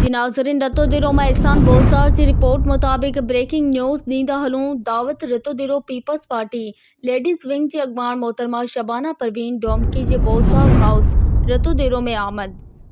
جي ناظرين رتو ديرو مان احسان بوزدار جي رپورٽ مطابق بريڪنگ نيوز ڏيندا هلون دعوت Ratodero Peoples Party ladies wing جي اڳواڻ محترمه شبانه پروين ڊومڪي جي بوزدار هائوس رتو ديرو ۾ آمد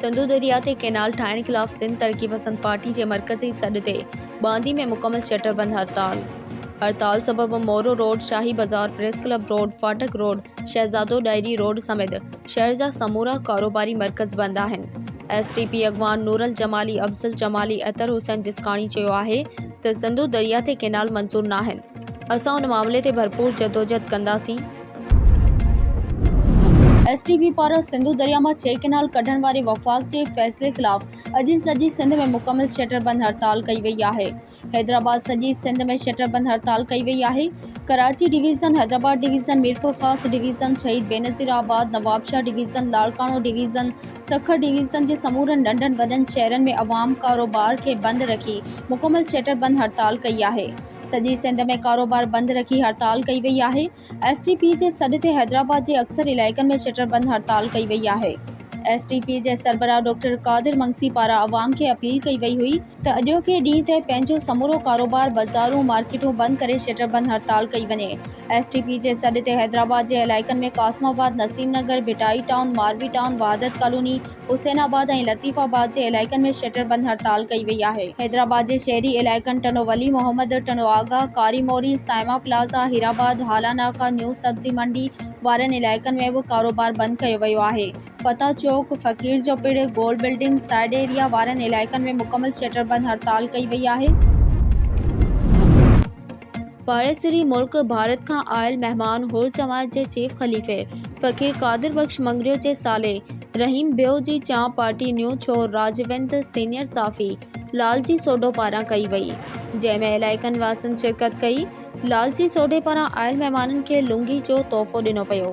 سنڌو درياء تي ڪينال ٺاهڻ خلاف سنڌ ترقي پسند پارٽي جي مرڪزي سڏ تي باندي ۾ مڪمل شٽر بند هڙتال هڙتال سبب مورو روڊ، شاهي بازار، پريس ڪلب روڊ، فاٽڪ روڊ، شهزادو ڏاهري روڊ سميت شهر جا سمورا ڪاروباري مرڪز بند آهن. ايس ٽي پي اڳواڻ نورل جمالي، افضل جمالي، اطهر حسين جسڪاڻي چيو آهي ته سنڌو درياء تي ڪينال منظور ناهن، اسان ان معاملي تي ڀرپور جدوجهد ڪنداسين، ايس ٽي بي پاران سنڌو درياء مان ڇهه ڪئنال ڪڍڻ واري وفاق جي فيصلي خلاف اڄ سڄي سنڌ ۾ مڪمل شٽر بند هڙتال ڪئي وئي آهي حيدرآباد سڄي سنڌ ۾ شٽر بند هڙتال ڪئي وئي آهي Karachi division Hyderabad division Mirpurkhas division Shaheed Benazirabad Nawabshah division Larkana division Sukkur division جي سمورن ننڍن وڏن شهرن ۾ عوام ڪاروبار کي بند رکي مڪمل شٽر بند هڙتال ڪئي آهي سڄي سنڌ ۾ ڪاروبار بند رکي هڙتال ڪئي وئي آهي ايس ٽي پي جي سڏ تي حيدرآباد جي اڪثر علائقن ۾ شٽر بند هڙتال ڪئي وئي آهي ايس ٽي پي جي سربراهه ڊاڪٽر قادر منگسي پاران عوام کي اپيل ڪئي وئي هئي ته اڄوڪي ڏينهن تي پنهنجو سمورو ڪاروبار بزارون مارڪيٽون بند ڪري شٽر بند هڙتال ڪئي وڃي ايس ٽي پي جي سڏ تي حيدرآباد جي علائقن ۾ Qasimabad Naseem Nagar Bhitai town Marvi town Wahdat colony Hussainabad ۽ Latifabad جي علائقن ۾ شٽر بند هڙتال ڪئي وئي آهي. حيدرآباد جي شهري علائقن ٽنڊو ولي محمد، ٽنڊو آغا، ڪاري موري، سائما پلازا، هيرآباد، هالا ناڪا، نيو سبزي منڊي وارن علائقن ۾ به ڪاروبار بند ڪيو ويو آهي. فتح چوڪ، فقير جو پڙ، گول بلڊنگ، سائيڊ ايريا وارن علائقن ۾ مڪمل شٽر بند هڙتال ڪئي وئي آهي. پاڙيسري ملڪ ڀارت کان آيل مهمان هور جماعت جي چيف خليفي فقير قادر بخش مڱريو جي سالي رحيم ڀيو جي چانهه پارٽي نيو ڇور راجوند سينيئر صافي لالجي سوڍو پاران ڪئي وئي جنهن ۾ علائقن واسين شرڪت ڪئي لالجي سوڍي پاران آيل مهمانن کي لونگي جو تحفو ڏنو ويو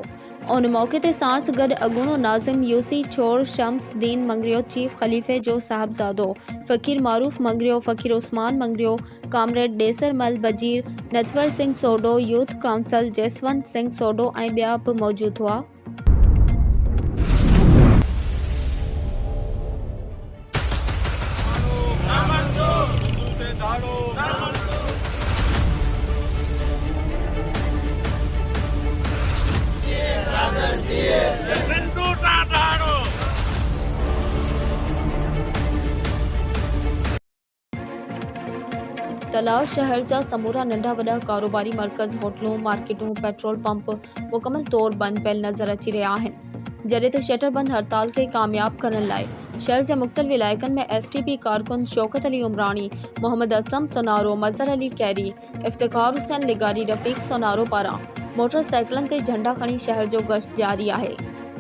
ان موقعي تي ساڻس گڏ اڳوڻو ناظم يوسي ڇور شمس دين مڱريو چيف خليفي جو صاحبزادو فقير معروف مڱريو فقير عثمان مڱريو ڪامريڊ ڏيسر مل وزير، نجور سنگهه سوڍو، يوٿ ڪائونسل جسونت سنگهه سوڍو ۽ ٻيا به موجود هئا. تلوار شهر جا سمورا ننڍا وڏا ڪاروباري مرڪز، هوٽلون، مارڪيٽون، پيٽرول پمپ مڪمل طور بند پيل نظر اچي رهيا آهن، جڏهن ته شٽر بند هڙتال کي ڪامياب ڪرڻ لاء شهر جي مختلف علائقن ۾ ايس ٽي پي ڪارڪن شوڪت علي عمراڻي، محمد اسلم سونارو، مظهر علي کهري، افتخار حسين لغاري رفيق سونارو پاران موٽر سائيڪلن تي جهنڊا کڻي شهر جو گشت جاري آهي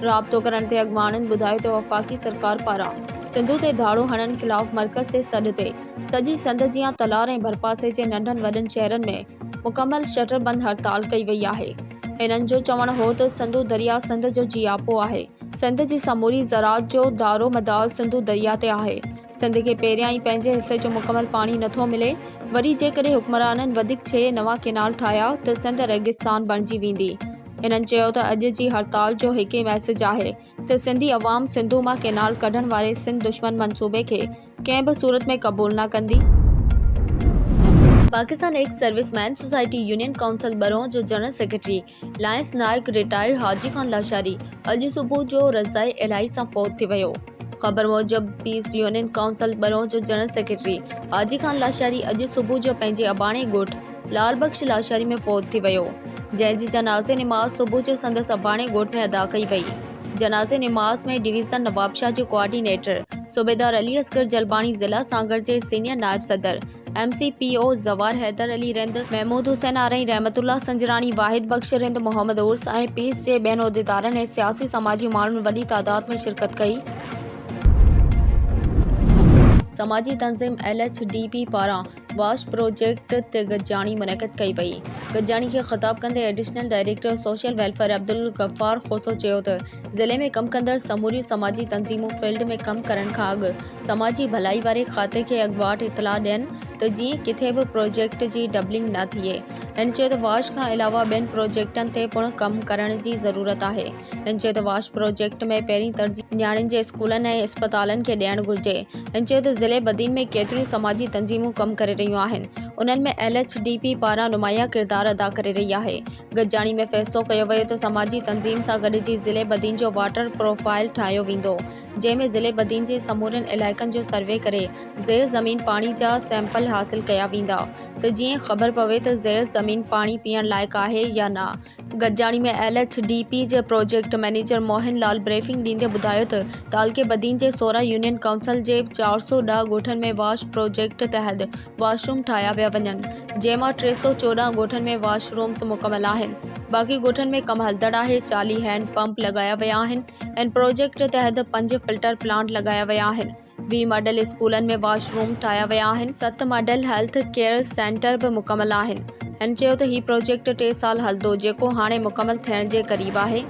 رابطو ڪرڻ تي اڳواڻن ٻڌايو ته وفاقي سرڪار پاران سنڌو تي ڌاڙو هڻڻ خلاف مرڪز جي سڏ تي سڄي سنڌ جيان تلار ۽ ڀرپاسي جي ننڍن وڏن شهرن ۾ مڪمل شٽر بند هڙتال ڪئي وئي آهي هنن جو چوڻ هو ته سنڌو دريا سنڌ جو جياپو آهي سنڌ جي سموري زراعت جو دارو مدار سنڌو دريا تي آهي سنڌ کي پهريان ئي پنهنجي حصي جو مڪمل پاڻي نه ٿو ملي، وري جيڪڏهن حڪمرانن وڌيڪ ڇهه نوان ڪئنال ٺاهيا ته سنڌ ريگستان بڻجي ويندي. هنن چيو ته اڄ جي هڙتال جو هڪ ئي ميسيج آهي ته سنڌي عوام سنڌو مان ڪئنال ڪڍڻ واري سنڌ دشمن منصوبي کي ڪنهن به صورت ۾ قبول نه ڪندي. Pakistan ex service men society union council ٻرون جو general secretary lance naik retired Haji Khan Lashari اڄ صبح جو رضائي الاهي سان فوت ٿي ويو خبر موجب پيس يونين ڪائونسل ٻرون جو جنرل سيڪريٽري حاجي خان لاشاري اڄ صبح جو پنهنجي اباڻي ڳوٺ لال بخش لاشاري ۾ فوت ٿي ويو جنهن جي جنازي نماز صبح جو سندس اباڻي ڳوٺ ۾ ادا ڪئي وئي جنازي نماز ۾ ڊويزن نوابشاهه جو ڪوآرڊينيٽر صوبيدار علي اصغر جلباڻي ضلع سانگهڙ جي سينيئر نائب صدر M C P O Zawar Haider Ali Rind, Mehmood Hussain Arain, Rehmatullah Sanjrani, واحد بخش رند، محمد عرس ۽ پيس جي ٻين عهديدارن ۽ سياسي سماجي ماڻهن وڏي تعداد ۾ شرڪت ڪئي. سماجي تنظيم ايل ايڇ ڊي پي پاران واش پروجيڪٽ تي گڏجاڻي منعقد ڪئي وئي. گڏجاڻي کي خطاب ڪندي additional director social welfare Abdul Ghaffar Khoso چيو ته ضلعي ۾ ڪم ڪندڙ سموريون سماجي تنظيمون فيلڊ ۾ ڪم ڪرڻ کان اڳ سماجي ڀلائي واري کاتي کي اڳواٽ اطلاع ڏين ته جيئن ڪٿي به پروجيڪٽ جي ڊبلنگ نه ٿئي هن چيو ته واش کان علاوه ٻين پروجيڪٽن تي پڻ ڪم ڪرڻ جي ضرورت آهي هن چيو ته واش پروجيڪٽ ۾ پهرين ترجيح نياڻين جي اسڪولن ۽ اسپتالن کي ڏيڻ گهرجي هن چيو ته ضلعي بدين ۾ ڪيتريون سماجي تنظيمون ڪم ڪري رهيون آهن انهن ۾ ايل ايڇ ڊي پي پاران نمايان ڪردار ادا ڪري رهي آهي گڏجاڻي ۾ فيصلو ڪيو ويو ته سماجي تنظيم سان گڏجي ضلعي بدين جو واٽر پروفائيل ٺاهيو ويندو جنهن ۾ ضلعي بدين جي سمورين علائقن جو سروي ڪري زير زمين پاڻي جا سيمپل حاصل ڪيا ويندا ته جيئن خبر پوي ته زير زمين پاڻي پيئڻ لائق آهي يا نه. گڏجاڻي ۾ ايل ايڇ ڊي پي جي project manager Mohan Lal briefing ڏيندي ٻڌايو ته تعلقي بدين جي سورهن يونين ڪائونسل جي چار سؤ ڏهه ڳوٺن ۾ واش پروجيڪٽ تحت واش روم ٺاهيا پيا وڃن، جنهن مان ٽي سؤ چوڏهن ڳوٺن ۾ واش رومز مڪمل آهن، باقي ڳوٺن ۾ ڪم هلندڙ آهي، چاليهه هينڊ پمپ لڳايا ويا آهن، هن پروجيڪٽ تحت پنج فلٽر پلانٽ لڳايا ويا آهن، ويهه ماڊل اسڪولن ۾ واش روم ٺاهيا ويا آهن، ست ماڊل هيلٿ ڪيئر سينٽر به مڪمل آهن، هن چيو ته هي پروجيڪٽ ٽي سال هلندو، جيڪو هاڻي مڪمل ٿيڻ جي قريب آهي.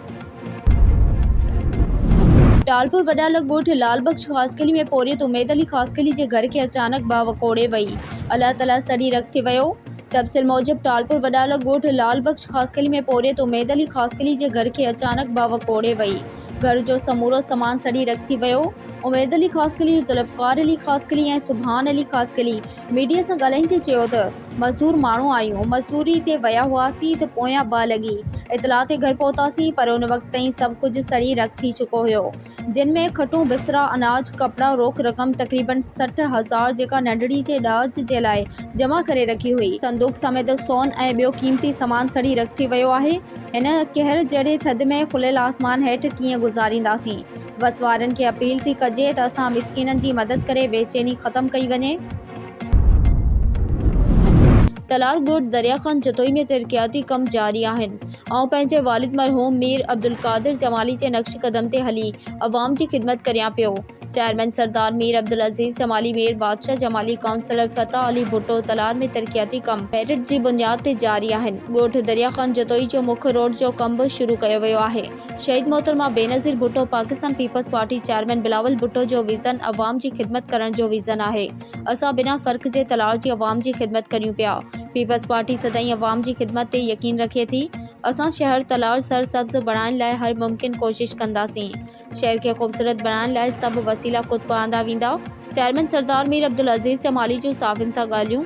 ٽالپور وڏالڳ ڳوٺ لعل بخش خاصخيلي ۾ پورهيت اميد علي خاصخيلي جي گهر کي اچانڪ باهه وڪوڙي وئي، الله تعاليٰ سڙي رک ٿي ويو. تبصري موجب ٽالپور وڏالڳ ڳوٺ لعل بخش خاصخيلي ۾ پورهيت اميد علي خاصخيلي جي گهر کي اچانڪ باهه وڪوڙي وئي، گهر جو سمورو سامان سڙي رک ٿي ويو. اميد علي خاصخيلي، ذوالفقار علي خاصخيلي ۽ سبحان علي خاصخيلي ميڊيا سان ڳالهائيندي چيو ته، مزور ماڻهو آهيون، مزوريء تي ويا هئاسين ته پويان ٻه لڳي اطلاع تي گهر پهتاسين، پر ان وقت تائين سڀ ڪجهه سڙي رک ٿي چڪو هيو، جن ۾ کٽون، بسترا، اناج، ڪپڙا، روڪ رقم تقريباً سٺ هزار جيڪا ننڍڙي جي ڏاج جي لاء جمع ڪري رکي هئي. صندوق سميت سون ۽ ٻيو قيمتي سامان سڙي رک ٿي ويو آهي، هن قهر جهڙي ٿڌ ۾ کليل آسمان هيٺ ڪيئن گذارينداسين؟ وس وارن کي اپيل ٿي ڪجي ته اسان مسڪينن جي مدد ڪري بيچيني ختم ڪئي وڃي. تلار ڳوٺ دريا خان جتوئي ۾ ترقياتي ڪم جاري آهن، آئون پنهنجي والد مرحوم مير عبدالقادر جمالي جي نقش قدم تي هلي عوام جي خدمت ڪريان پيو، چيئرمين سردار مير عبدالعزيز جمالي، مير بادشاهه جمالي، ڪائونسلر فتح علي ڀٽو، تلار ۾ ترقياتي ڪم ميرٽ جي بنياد تي جاري آهن، ڳوٺ دريا خان جتوئي جو مک روڊ جو ڪم به شروع ڪيو ويو آهي، شهيد محترمه بينظير ڀٽو، پاڪستان پيپلز پارٽي چيئرمين بلاول ڀٽو جو ويزن عوام جي خدمت ڪرڻ جو ويزن آهي. اسان بنا فرق جي تلار جي عوام جي خدمت ڪريون پيا. پيپلز پارٽي سدائين عوام جي خدمت تي يقين رکي ٿي. اسان شهر تلار سر سبز بڻائڻ لاء هر ممڪن ڪوشش ڪنداسين. شهر کي خوبصورت بڻائڻ لاء سڀ وسيلا خود پهاندا ويندا. چيئرمين سردار مير عبدالعزيز جمالي جون صحافين سان ڳالهيون.